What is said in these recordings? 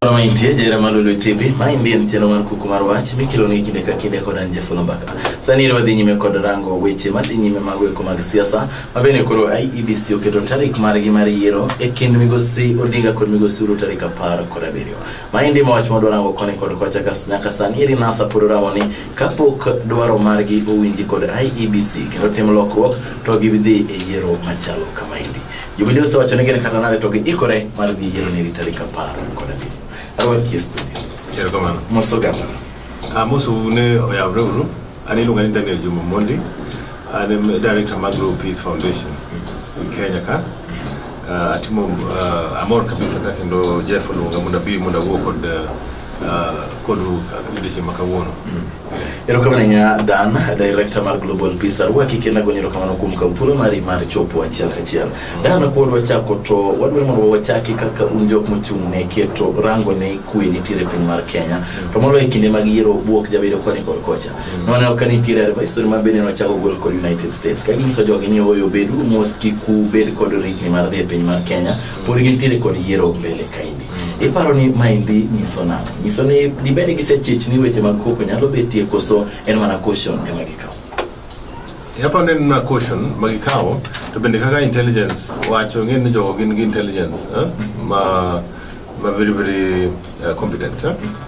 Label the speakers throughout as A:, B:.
A: Moro maintie jera malulu TV, mae ndiye ntieno mar kuku mar wach mikelo ni kinde ka kinde kod anje fulo mbaka. Sani iro dhi nyime kod rango weche madhi nyime mago eko mag siasa, mabene koro IEBC oketo tarik margi mar yiero e kind migosi Odinga kod migosi Uhuru tarik apar kod abiriyo. Mae ndiye mawach mwadwa rango koni kod kocha kas nyaka sani iri nasa pod ramo ni kapok dwaro margi owinji kod IEBC kendo tim lokruok to gidhi e yiero machalo kama hindi. Jubilee osewacho ni gin kata nade to giikore mar dhi yiero nyiri tarik apar kod abiriyo. Arwaki e studio. Erokamano.
B: Mos oganda.
A: Ah, mos une
B: oyawre uru. An iluonga ni Daniel Juma Mondi. An em director mag Grow Peace Foundation e Kenya ka. Ah, atimo ah, amor kabisa ka kendo Jeff oluonga mondo abi mondo awuo kod ah, erokamano
A: ahinya dan director mar global peace arwa kikenda gonyo erokamano kuom kaw thuolo mari mar chopo achiel kachiel dan kuod wachako to wadwaro mondo wachaki kaka un jok mochung' ne keto rango ne kwe nitiere piny mar kenya to moloyo e kinde mag yiero buok jabedo koni kod kocha noneno ka nitiere advisory ma bende nochako gol kod united states ka ginyiso jogi ni oyo bedu mos kik ubed kod rikni mar dhi e piny mar kenya pod gintiere kod yiero mbele kaendi mm. iparo ni maendi nyiso nang'o nyiso ni dibed ni gisechich ni weche mag koko nyalo betie koso en mana caution ema gikawo
B: hapa neno na caution magikawo to bende kaka intelligence wacho ng'e ni jogo gin gi intelligence eh? ma ma very very uh, competent eh?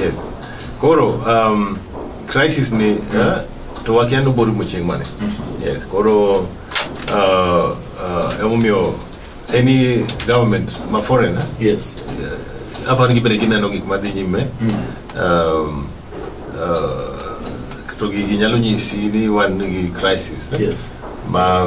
B: Yes.
A: Koro
B: um, crisis ni eh, to wakia ni obor rumo chieng' mane. Yes. Koro uh, uh, emomiyo any government ma foreign eh, Yes. aparo ni gibende gineno gik madhi nyime um, uh, to gi- ginyalo nyisi ni wan gi crisis eh. Yes. ma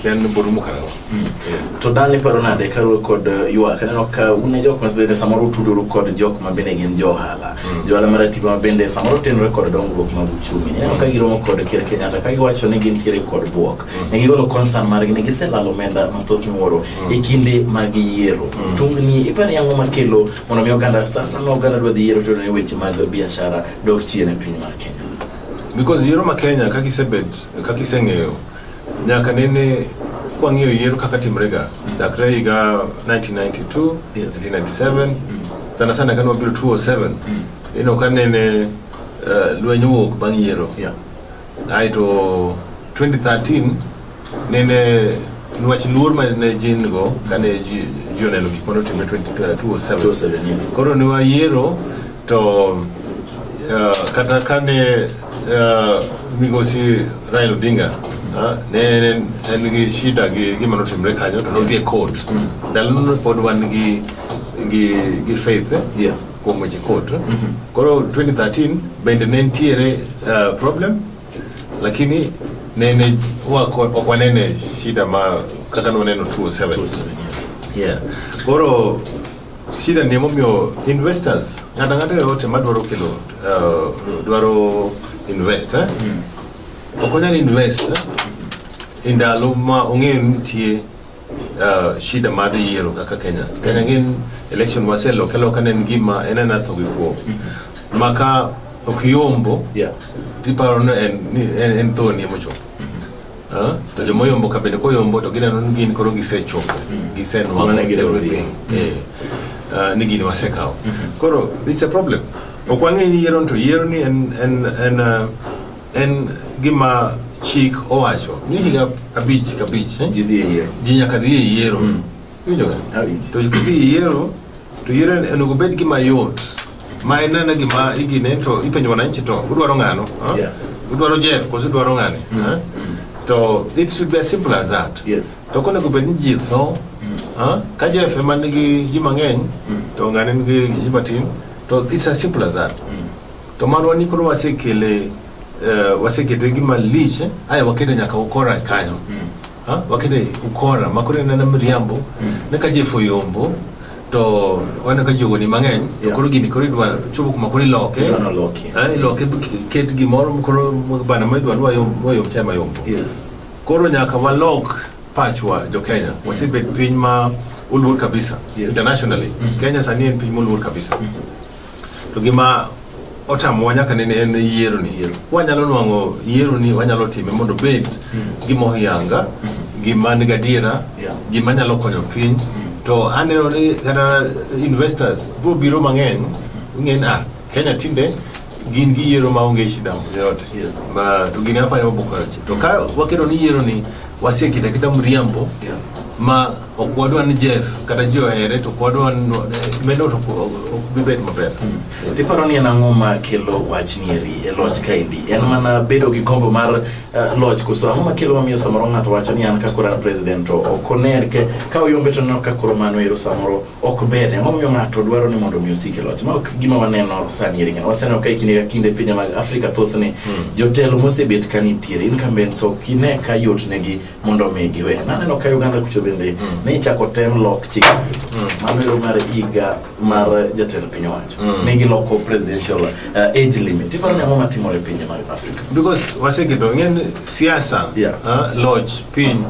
B: ken buru mukarawa mm. to dani
A: paro nade karu kod uh, yua kaneno ka une jok ma bende samoro tuduru kod jok ma bende gin johala mm. johala mar atiba ma bende samoro tenore kod dongruok mag uchumi neno ka giromo kod ker kenyatta ka giwacho ni gin tiere kod buok mm. ne gigolo concern margi ne giselalo omenda mathoth miwuoro e kinde mag yiero tungni ipani yango makelo mondo mi oganda sasa ma oganda dwa dhi yiero to ne weche mag biashara dok chien e piny mar kenya because yiero
B: ma kenya kaka isebet Kaka iseng'eyo, nyaka nene kwang'iyo yiero kaka timrega chakre higa 1992 Yes. 1997 sana sana kane wabiro 207 ino ka nene eh, lweny owuok bang' yiero Yeah. aeto 2013 nene nwach luor ma ne ji nigo kane ji ji oneno gik mane otimre 20- 207 207, yes. koro ne wayiero To uh, kata kane uh, migosi Raila Odinga uh, ne en- en gi shida gi gima notimre kanyo to nodhi e court ndalono ne pod wan gi gi gi faith eh, Yeah. kuom weche court koro 2013 bende ne nitiere uh, problem lakini nene wako ok wanene shida ma kaka noneno 207 Two seven years. yeah koro Shida ni emomiyo investors ng'ata ng'ata yoyote madwaro kelo uh, dwaro invest eh? mm. ok onyal invest eh? e ndalo ma ong'eyo ni nitie uh, shida mar yiero kaka Kenya. Kenya ngin election waseloke loka ne en gima en ena tho gi kuo. Mm-hmm. Maka ok yombo yeah. tiparo ni en, en, en thoni emochopo. to jomoyombo ka bende koyombo to gineno ni gin koro gisechopo mm. gisenwang'o everything mm. eh, ah, ni gini wasekawo mm-hmm. koro it's a problem ok wang'e ni yiero to yiero ni en, en, en, ah, en gima chik owacho ni higa abich kabich eh? ji nyaka dhi e yiero mm. To yiero to yiero onego bed gima yot ma inene gima igine to ipenjo wananchi to udwaro ng'ano udwaro Jeff koso udwaro ng'ani mm. to it should be as simple as that yes. to konego bed ni ji tho mm. ka Jeff ema nigi ji mang'eny mm. to ng'ani nigi ji matin to it's as simple as that to mano ni koro wasekele uh, wasekete gima lich eh? aya wakete nyaka ukora kanyo mm. ha wakene ukora makore na mriambo ne ka jefo yombo to wana ka jogo ni mang'eny to Yeah. koro gini koro idwa chopo kuma koro iloke Idwano loki. Ah, iloke ki- ket gimoro koro bana ma idwa lwa yom lwa yom tema yombo Yes. koro nyaka walok pachwa jo Kenya wasebet piny ma oluor kabisa Yes. internationally Kenya sani en piny moluor kabisa To gima otamowa nyaka nene en yiero ni yiero. Wanyalo nwang'o yiero ni wanyalo time mondo obed mm. gima oyanga, mm -hmm. gima ni gadiera, yeah. gima nyalo konyo piny. Mm -hmm. To aneno ni kata investors biro biro mang'eny, mm -hmm. ng'eny ah, Kenya tinde gin gi yiero ma onge shida yote yes. ma to gini hapa ni mabukaji to ka wakedo ni yiero ni wasie kita kita mriambo yeah. ma ok wadwa ni Jeff kata ji ohere to wadwa ni meno to ok bibet maber. Iparo ni en
A: ang'o ma kelo wach nieri e loch kaendi? En mana bedo gi kombo mar eh, loch koso ang'o ma kelo mamiyo samoro ng'ato wacho ni an ka koro an president to ok oner ke ka oyombe to neno ka koro mano ero samoro ok ber. Ang'o momiyo ng'ato dwaro ni mondo omi osik e loch? Ma ok gima waneno sani eri ng'ano. Waseneno ka e kinde ka kinde pinje mag Afrika thothne jotelo mosebet ka nitiere incumbents ok ine ka yotnegi mondo mi giwe. Naneno ka Uganda kucho bende mm. ne ichako tem lok chik mm. mano ero mar higa mar jatend piny owacho mm. ne giloko presidential uh, age limit. Iparo ni ang'o matimore e pinje mag Afrika? Because waseketo
B: ng'en siasa yeah. uh, loch piny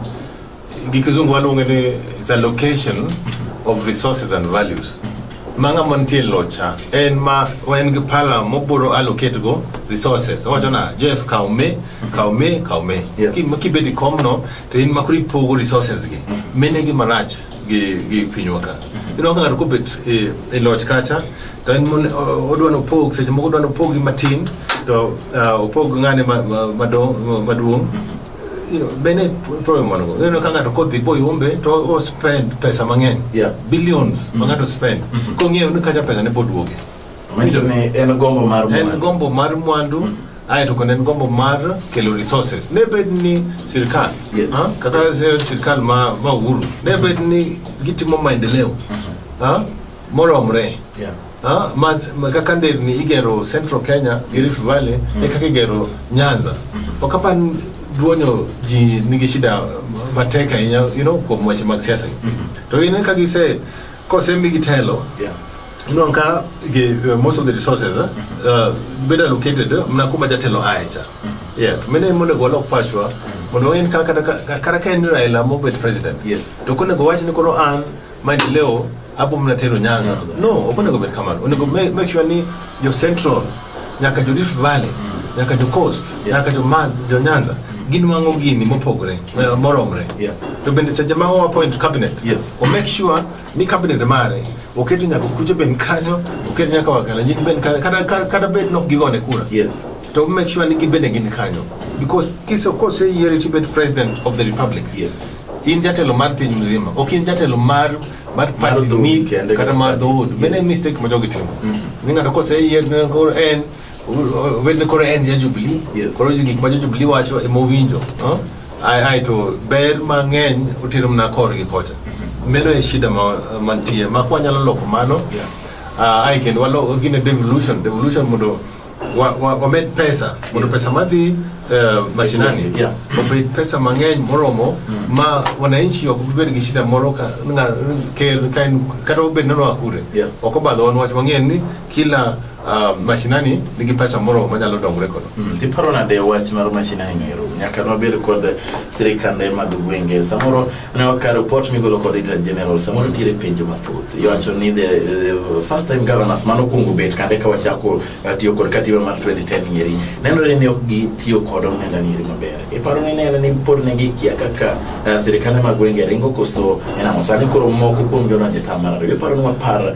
B: gi kizungu waluonge ni is a location mm-hmm. of resources and values mm -hmm. ma ng'ama nitie locha en ma en gi pala moburo allocate go resources owacho na Jeff kaw me mm -hmm. kaw me kaw me Yeah. Ki- ma kibedi kom no to in makoro ipogo resources gi mine gi manach gi gi pinywa ka ino ka ng'ato kobet e e loch kacha to en mon- o- odwa ni opog seche moko odwa ni opog gi matin to ah, opog ng'ane ma- ma- mado- ma- maduong' You know, bene problem man go ino ka ng'ato kodhi boyombe to o spend pesa mang'eny Yeah. billions ma ng'ato spend kong'eyo ni kacha pesa ne boduoge Manyiso ni en
A: gombo mar mwandu. En gombo
B: mar mwandu. Mm -hmm aye to kendo en gombo mar kelo resources ne bed ni sirkal yes. ha? kaka sirkal ma, ma uhuru ne bed ni gitimo maendeleo mm -hmm. ha? moromre yeah. Ah, kaka nderni igero central kenya gi rift valley mm. e kaka igero nyanza mm. ok apa duonyo ji nigi shida matek ahinya you know, kuom weche mag siasa mm -hmm. to ine ka gise kosemigi telo yeah. You know, nka, ge, uh, most of the resources uh, uh, better located uh, mnakuma jatelo aecha yeah mene mone go lok pachwa mondo en kaka kaka ka en Raila mobet president Yes. to kone go wach ni koro an maendeleo apo mna tero nyanza Nyanza. no okone go bet kamano onego ma- make sure ni jo central nyaka jo rift valley nyaka jo coast Yeah. nyaka jo man jo nyanza gin wango gini mopogore eh, moromre Yeah. to bende seche ma wa appoint cabinet Yes. o make sure ni cabinet mare oketo nyaka kuche ben kanyo oketo nyaka wakalenjin ben kanyo kata, kata, kata bed nok gigone kura yes. to make sure ni gibende gin kanyo because kise kose yiere tibet president of the republic yes. in jatelo mar piny mzima ok in jatelo mar mar party ni kata mar dhood mene mistake ma jogi timo mm. ni ng'ato kose yier en Obedne koro en ja Jubilee. Yes. Koro gik ma jo Jubilee wacho ema owinjo. no? Ai ai to ber mang'eny otero mana korgi kocha. Meno e shida ma mantie. Ma kwa nyalo loko mano. Yeah. Ah, ai kendo walo gine devolution, devolution mondo wa- wa- wamed pesa mondo Yes. pesa madhi eh, mashinani Yeah. obed pesa mang'eny moromo ma wananchi ok bi bed gi shida moro ka nga- ker ka en- kata obed ni noa kure Yeah. ok obadho wan wach wang'eyo ni kila uh, mashinani nigi pesa moro manyalo dongre kodo mm, tiparo nade
A: wach mar mashinani noero nyaka nwabed kod sirikande mag gwenge samoro ne waka report migolo kod Inter General samoro nitiere penjo mathoth iwacho ni the, the first time governors mano kuongo bet kande ka wachako uh, tiyo kod katiba mar 2010 ngeri nenore ni ok gitiyo kod omenda niri maber iparo ni nene ni pod ne gikia kaka uh, sirikande mag gwenge ringo koso enamo sani koro moko kuom jona jetamar ariyo iparo ni wapar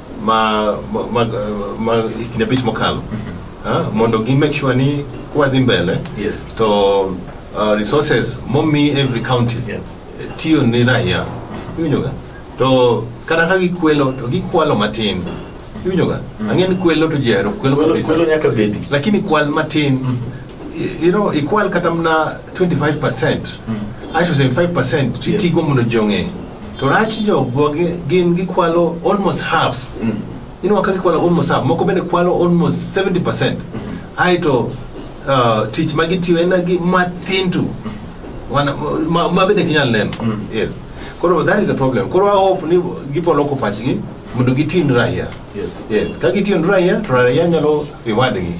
B: ma, ma, ma, ma higni abich mokalo ah, mondo gi make sure ni kwadhi mbele Yes. to uh, resources momi every county Yeah. tiyo ni raia iwinjoga to kata ka gikwelo to gikwalo matin iwinjoga ang'e ni kwelo to ji ahero kwelo Kwelo kabisa kwelo nyaka
A: bedi. lakini kwal matin
B: y- you know ikwal kata mna 25 percent aito 75 percent Yes. titigo mondo ji ong'e To rach jo gwagi gin gikwalo almost half. Mm. Inwa ka gikwalo almost half. Moko bende kwalo almost 70%. Mm. Aito uh, tich ma gitiyo en gi mathin tu. Wana ma, ma bende kinyal neno. Mm. Yes. Koro that is a problem. Koro I hope ni gipoloko pachgi mondo gitin raia. Yes. Yes. Ka gitin raia, to raia nyalo e wadgi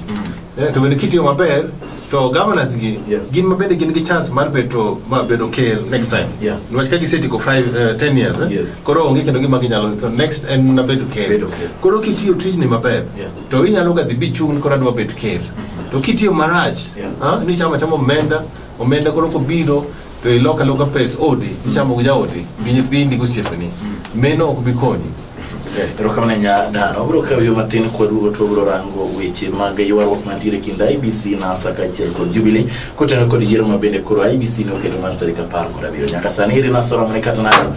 B: Eh, to bende kitiyo maber to governors gi Yeah. gin ma bende gin gi chance mar beto ma bedo ker next time Yeah. niwach ka gisetieko 5 uh, 10 years eh? Yes. koro onge kendo gima ginyalo to next en mana bedo ker Bedo ker. koro kitiyo tijni maber Yeah. to inyalo ga dhi bichung' koro adwa bet ker to kitiyo marach Yeah. ah, ni chama chama omenda omenda koro kobiro to ilok aloka pes odi ichamo gi jaodi gi nyithindi gosiepeni meno ok bi konyi erokamano
A: ahinya dan wabiro kawo yo matin kwaduogo to wabiro rango weche mag ywaruok mantiere e kind ibc nasa kaachiel kod jubilee kotenore kod yiero ma bende koro ibc ne oketo mar tarik apar kod abiriyo nyaka sani iri nasoromone kata nado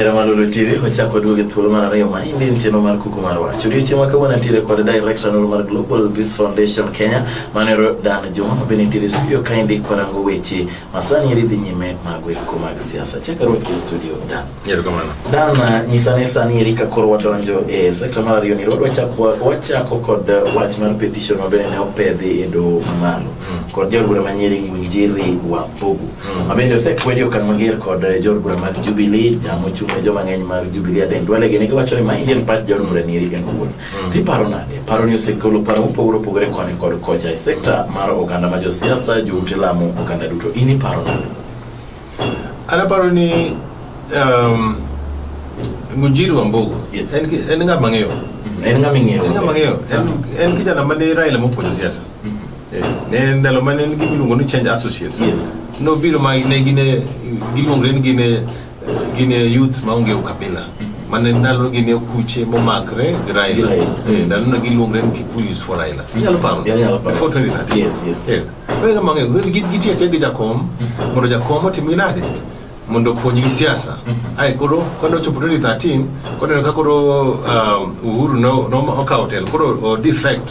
A: Ramadolo TV ochako duogo e thuolo mar ariyo ma indi en chenro mar kuku mar wach. Odiochieng' ma kawuono nitiere kod director noro mar Global Peace Foundation Kenya manero Dan Juma ma bende nitiere studio ka indi kwarango weche Masani eri dhi nyime mag weko mag siasa. Chak arwaki e studio Dan. Erokamano. Dan, uh, nyisa ane sani eri ka koro wadonjo e sekta mar ariyo ni wachako wachako kod uh, wach mar petition ma bende ne opedhi e doho mamalo mm. kod jaod bura ma Nyeri Ngunjiri Wambugu mm. ma bende osekwedi okang' mager kod uh, jaod bura mag Jubilee jamo chung' ne joma ng'eny mar Jubilee Aden Duale gini giwacho ni ma Indian Party jaod bura ni eri en wuon. Mm. Iparo nade? Paro ni osegolo paro mopogore opogore koni kod kocha e sekta mar oganda ma josiasa, joute lamo, oganda duto. In iparo nade?
B: An aparo ni um, Mujiri Wambugu yes. en, en ng'ama ng'eyo mm-hmm. en ng'ama ng'eyo en
A: ng'ama ng'eyo ah. en kijana
B: mane Raila mopuonjo siasa mm-hmm. eh, ne ndalo mane en gimiluongo ni change associates yes. nobiro ma ne gine giluongre ni gine Gine youth maonge ukabila mane ndalo gi ne kuche momakre gi Raila Raila. Eh, ndalo no giluongre ni Kikuyus for Raila inyalo paro Yeah, inyalo paro. before 2013 Yes, yes. yes kore kama ng'e gin gin gitiyo achiel gi jakom mondo jakom otim ginade mondo opuonj gi siasa ae koro kane ochopo 2013 koneno ka koro um, Uhuru no no okawo telo koro o defect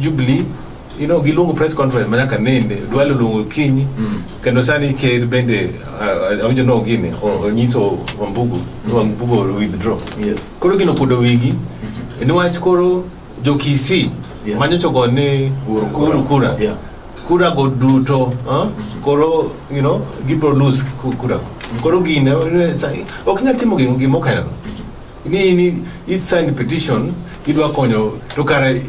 B: Jubilee you know, giluongo press conference ma nyaka nende dwale oluongo kinyi mm. kendo sani ker bende uh, awinjo no gini mm. onyiso wambugu mm. wambugu withdraw yes. koro gino kudo wigi mm-hmm. niwach koro jokisi yeah. manyochogo ni kuru kura yeah. kura go duto huh? Mm-hmm. Mm. koro you know, gibro lose kura mm. koro gine ok nyal timo gimo kainano ni ni it sign petition idwa konyo to kare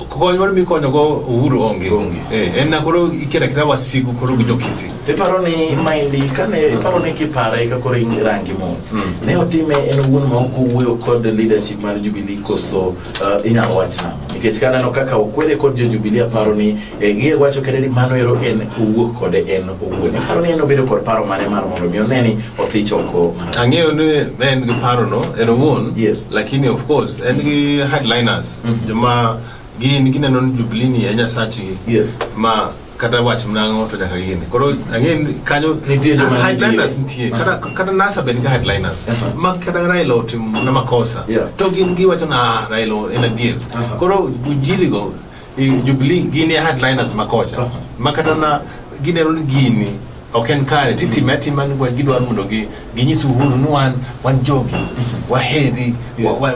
B: kony moro mikonyo go Uhuru onge Onge. eh en na koro ikira kira wasigu koro gi jokisi Iparo ni
A: maendi kane iparo ni kipare ka koro in rangi mos. Ne otime en owuon ma ok owuoyo kod leadership mar Jubilee koso uh, inyalo wach nang'o? Nikech kaneno kaka okwede kod jo Jubilee aparo ni Gie wacho kende ni mano ero en owuok kode en owuon. Aparo ni en obedo kod paro mane mar mondo mi one ni othich oko. Ang'eyo ni
B: en gi paro no en owuon. Yes. Lakini of course en gi headliners mm-hmm. joma gin gineno ni Jubilee ni e nyasachgi. Yes. Ma
A: kata
B: wach mnango to nyaka gini koro again kanyo headliners nitie uh-huh. kata kata nasa bende headliners uh-huh. ma kata Raila otim na makosa to gin giwacho na Raila en adier uh-huh. koro jirigo I Jubilee gini headliners makocha. Uh-huh. Makata na gine run gini ok en kare titime mm-hmm. atima ni gidwaro mondo gi ginyis uhuru ni wan wan jogi mm-hmm. waheri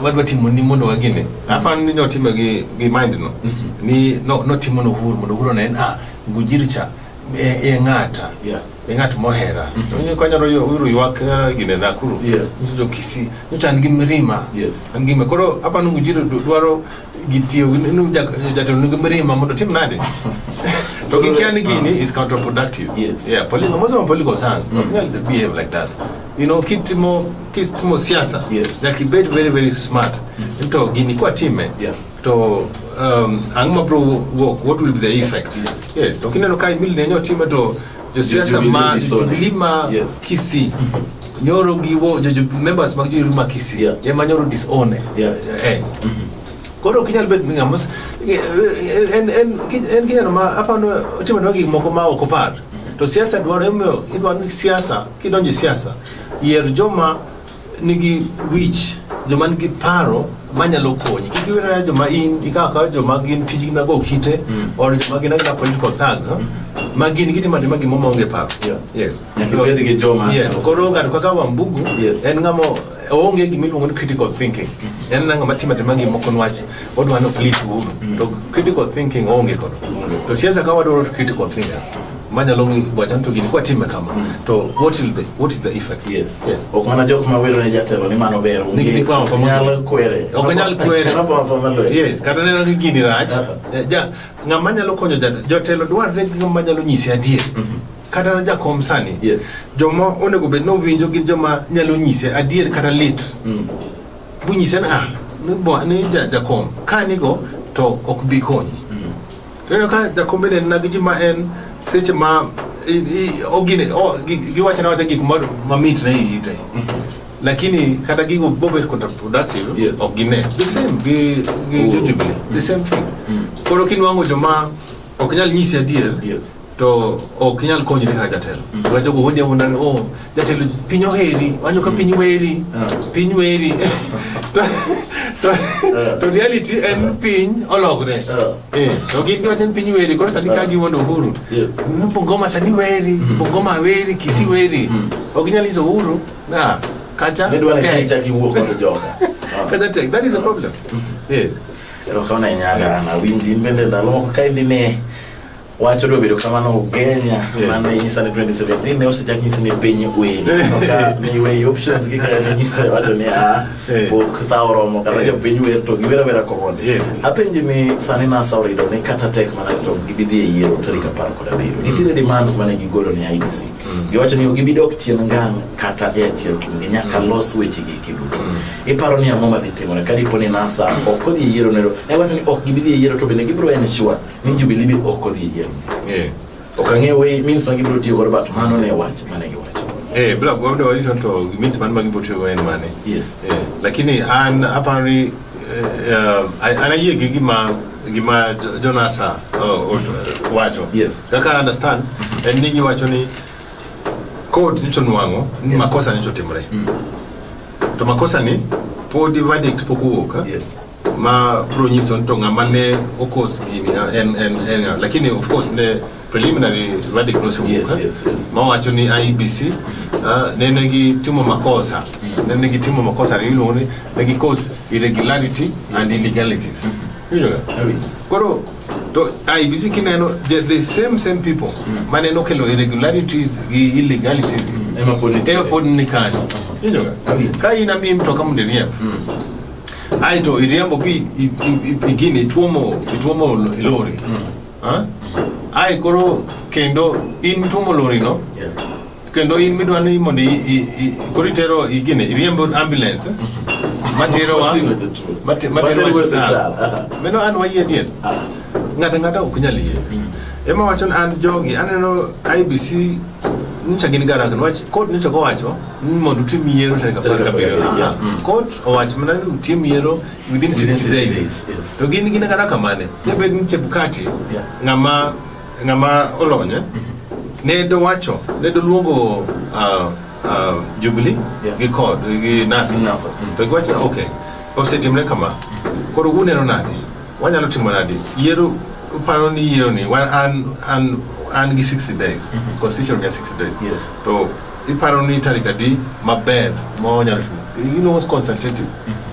B: wadwa timo ni mondo wagine mm-hmm. aparo ni notimo gi gi mind no ni no notimo no uhuru mondo uhuru ne ah ngujiri cha e, e ng'ata yeah e ng'at mohera mm-hmm. konyalo uru ywak eh, gine nakuru yeah. nyiso jokisi nyocha an gi mirima yes. an gi koro aparo ni ngujiri dwaro gitiyo gi- nu- ja- jatelo nigi mirima mondo otim nade to gikia ni gini is counterproductive Yes. yeah political most of political science mm. don't behave like that you know kitimo kitimo siasa Yes. like bet very very smart to gini kwa time Yeah. to um, ang' mabro work what will be the effect Yes. yes to kineno ka imili nenyo time to Josiasa ma Jubilee ma Kisii nyoro giwo members mag Jubilee ma Kisii ema nyoro disown eh. eh. Mm-hmm. Koro ok inyal bet ng'ama eh, en en en kijana ma apano otimo ne gik moko ma ok opar. To siasa dwaro emoyo idwaro ni siasa kidonjo siasa yier joma nigi wich joma nigi paro manyalo konyi kik iwere joma in ikawo kawa joma gin tijgi mag okite mm. or joma gin agina political thugs mm. ma gin gitimo atima gimo maonge paro
A: koro ng'ato kaka
B: wambugu en ng'ama oonge gima iluongo ni critical thinking mm-hmm. en ng'ama timo atima gimoko nwach Watu wana please u to critical thinking onge kono. To siasa kawa do critical thinkers. Manya longi kwa tanto gini kwa time kama. Mm. To what will be what is the effect? Yes. Yes. Okwana jok
A: ma wero ne jatelo ni mano ber. Ni ni kwa kwa nyal
B: kwere.
A: Okanyal kwere. Kana kwa
B: kwa malo. Yes, kana neno ni gini rach. Uh-huh. Ja ngama nyalo konyo jatelo dwarre ngama nyalo nyisi adier. Mm-hmm. kata na jakom sani yes. joma onego bed ni owinjo gin joma nyalo nyise adier kata lit mm. Bunyise ni ah, ni bo- ni ja- jakom ka nigo to ok bi konyi. Ineno ka jakom bende en nagi ji ma en seche ma i- i- ogine o- gi- giwacho na wacha gik ma- mamit ne iyi te. Lakini kata gigo bobet counterproductive Yes. ok gine. The same gi gi Oh. Jujubi. The same thing. Koro kinwango joma Ok nyal nyisi adier. Yes. To ok nyal konyri ka jatelo. Mm. Ga jogo wundi awuonda ni oh jatelo piny oheri, wanyo ka mm. piny weri, ah. piny weri. To ah. to reality en ah. piny ologre. Eh, to gin giwacho ni piny weri, koro sani ka gi wuondo Uhuru. Yes. Bungoma sani weri, mm. Bungoma weri, Kisii weri. Ok nyal nyiso Uhuru na kacha. Nidwa ni kacha gi wuok kod joga. Kacha tek, that is a problem. Yeah.
A: Erokamano ahinya Agana, awinji in bende ndalo moko ka indi ne wach odwa bedo kamano ugenya Yeah. mane inyisa ni 2017 ne osechak nyisi ni piny wili ka niweyi options gi kaka ninyisa wacho ni a Yeah. pok sa oromo kata Yeah. jopiny wer to giwera wera komondi Yeah. apenji ni sani nasa orito ni kata tek mana to gibidhi e yiero tarik apar kod abiriyo nitiere demands mane gigolo ne IDC giwacho ni ok gibidok chien ngang kata e achiel kuomgi nyaka los wechegi eki duto Iparo ni ang'o madhi timore ka dipo ni NASA ok odhi e yiero nero? Ne wacho ni ok gibi dhi e yiero to bende gibiro en sure ni Jubilee be ok odhi e yiero. Eh. Ok ang'e way means ma gibiro tiyo godo but mano ne wach mane giwacho. Eh, bila kuwa walito to
B: means man magi botio en mane. Yes. Eh, lakini an aparo ni eh, uh, an ayie gi gima gima Jonasa uh, uh, wacho. Yes. Kaka I understand en ni giwacho ni court nyicho nwang'o ni Yes. makosa nyicho timre. Mm. To makosa ni podi verdict pok owuok. Eh? Yes. Ma bro nyiso to ng'ama ne okos gini eh, en en en lakini of course ne preliminary verdict no nosewuok. Yes, eh? yes, yes. Ma wacho ni IBC uh, ah, ne ne gi timo makosa. Mm. Ne ne gi timo makosa ni iluongo ni ne gi cause irregularity yes. and illegalities. Mm -hmm. Koro to IBC kineno the, the same same people mm. mane nokelo irregularities gi illegalities mm. ema pod nitie ema pod ni kanyo injo ka in ami mtoka mondo iriemb mm. aito iriembo bi igini ituomo ituomo lori mm. ha ai koro kendo in ituomo lori no yeah. kendo in midwa ni mondo i- i- i- koro itero igine iriembo ambulance materowa Oting'o jotuo. mate- materowa Materowa e osiptal osiptal, aha. meno an wayie adier Ah. ng'ato ang'ata ok nyal yie ema wacho ni an jogi aneno ibc nyicha gin garak niwach kot nyicha kowacho ni mondo utim yiero tarik apar Tarik gabiriyo apar gabiriyo, Aha. kot owacho mana ni utim yiero within Within 60 sixty days days, yes. to gin gin kata kamane nyabed ni chebukati Yeah. ng'ama Ng'ama olonye eh? mhm. ne dowacho ne doluongo uh, uh, Jubilee yeah. gi kod gi Nasa mm. to giwacho ni okay, osetimre kama, koro uneno nadi, wanyalo timo nadi yiero uparo ni yiero ni wan an an an gi 60 days mm -hmm. constitution ga 60 days yes. to iparo ni tarik adi maber ma wanyalo timo you know, consultative mm -hmm.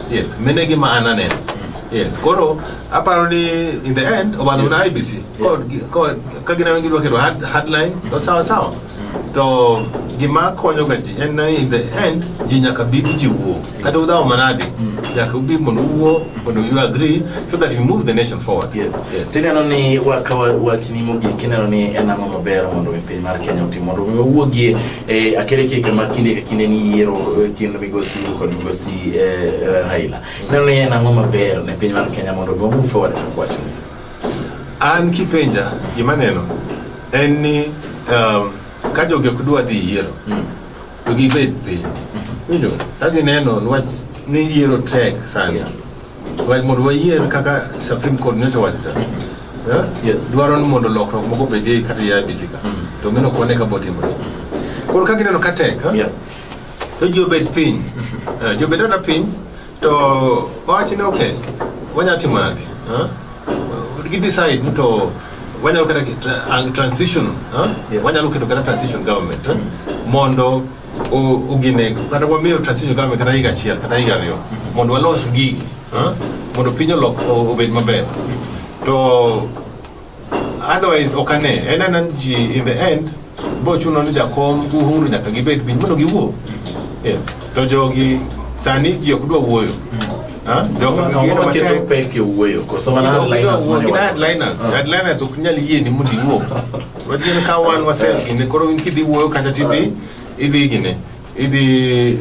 B: Yes, mine gi ma ananeno. Yes, koro aparo ni in the end obadho na IBC. Kod kod ka gineno gidwa keto hard- hardline to sawa sawa. To gima konyo ga ji en ni in the end ji nyaka bi ji wuo. Kata udhawo manade. Nyaka ubi mondo uwuo mondo you agree so that you move the nation forward. Yes. Yes. Tineno ni
A: wakawa wachni mogik ineno ni en ang'o maber mondo mi piny mar Kenya otim mondo mi wawuogie E, akere ke kama kinde ka kinde ni yiero e, kind migosi Ruto kod migosi e, e, Raila. Ineno ni en ang'o maber ne piny mar Kenya mondo mi move forward e kwacho? An
B: kipenja gima neno en ni um, ka jogi ok dwa dhi yiero mm. to gibed piny. Mm-hmm. Winjo, ka gineno nwach ni yiero tek sana. Yeah. Like mondo wayier kaka Supreme Court nyocha owacho cha. Yeah? Yes. Dwaro ni mondo lokruok moko bedie kata ya IBC ka. Mm. To mino kone ka botimore. Koro ka gineno ka tek, yeah. to ji obed piny. Mm-hmm. Eh, ji obed ata piny to owachi ni okay, wanya timo nade? Huh? Gi decide to wanyalo kata transition, huh? Yeah. Wanyalo keto kata transition government, huh? Mm. Mondo uginego kata wamiyo transition government kata higa achiel kata higa ariyo mondo walos gigi mondo piny olok obed maber to otherwise ok ane en ana ji in the end bo chuno ni jakom uhuru nyaka gibed piny mondo giwuo yes to jogi sani ji ok dwa wuoyo headliners ok nyal yie ni mondo iwuo Wajin ka wan wasel gine koro in kidhi wuoyo kata tidhi idhi gine idhi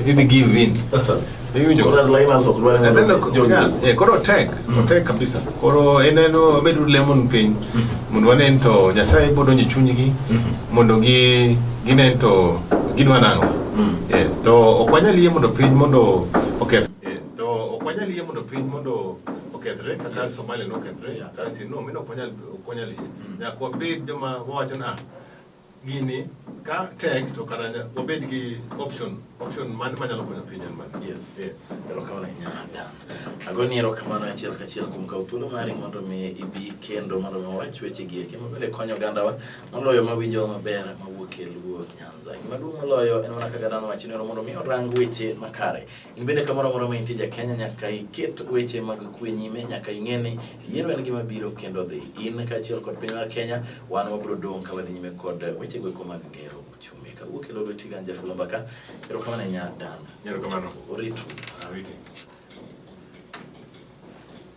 B: idhi give in. Iwinjo? Koro liners ok dwar Then, uh, John yeah, Luke. yeah, koro tek otek kabisa koro en en obedo lemon piny mondo wanen to nyasaye bo donjo e chunygi mondo gi ginen to gidwa nang'o yes to ok wanyal yie mondo piny mondo oketh yes to ok wanyal yie mondo piny mondo okethre kaka somalia nokethre kaka sino mino ok wanyal Okonya li. Ya kwa bed joma wacho na gini ka tek to kara wabed gi option option man manyalo konyo piny en mane yes yeah. erokamano
A: ahinya dan agoni erokamano achiel kachiel kuom kawo thuolo mari mondo mi ibi kendo mondo mi wawach weche gi eki mabende konyo ogandawa moloyo mawinjowa maber mawuok e luo nyanza gimaduong' moloyo en mana kaka dhano wacho ni mondo mi orang weche makare In bende kamoro amora ma intie ja Kenya nyaka iket weche mag kwe nyime, nyaka ing'e ni yiero en gima biro kendo dhi. In kaachiel kod piny mar Kenya, wan wabiro dong' ka wadhi nyime kod weche goeko mag gero uchumi. Kawuok e lolo tiga Anja Fulomba ka,
B: erokamano
A: ahinya Dan. Erokamano. Oritu. Awiti.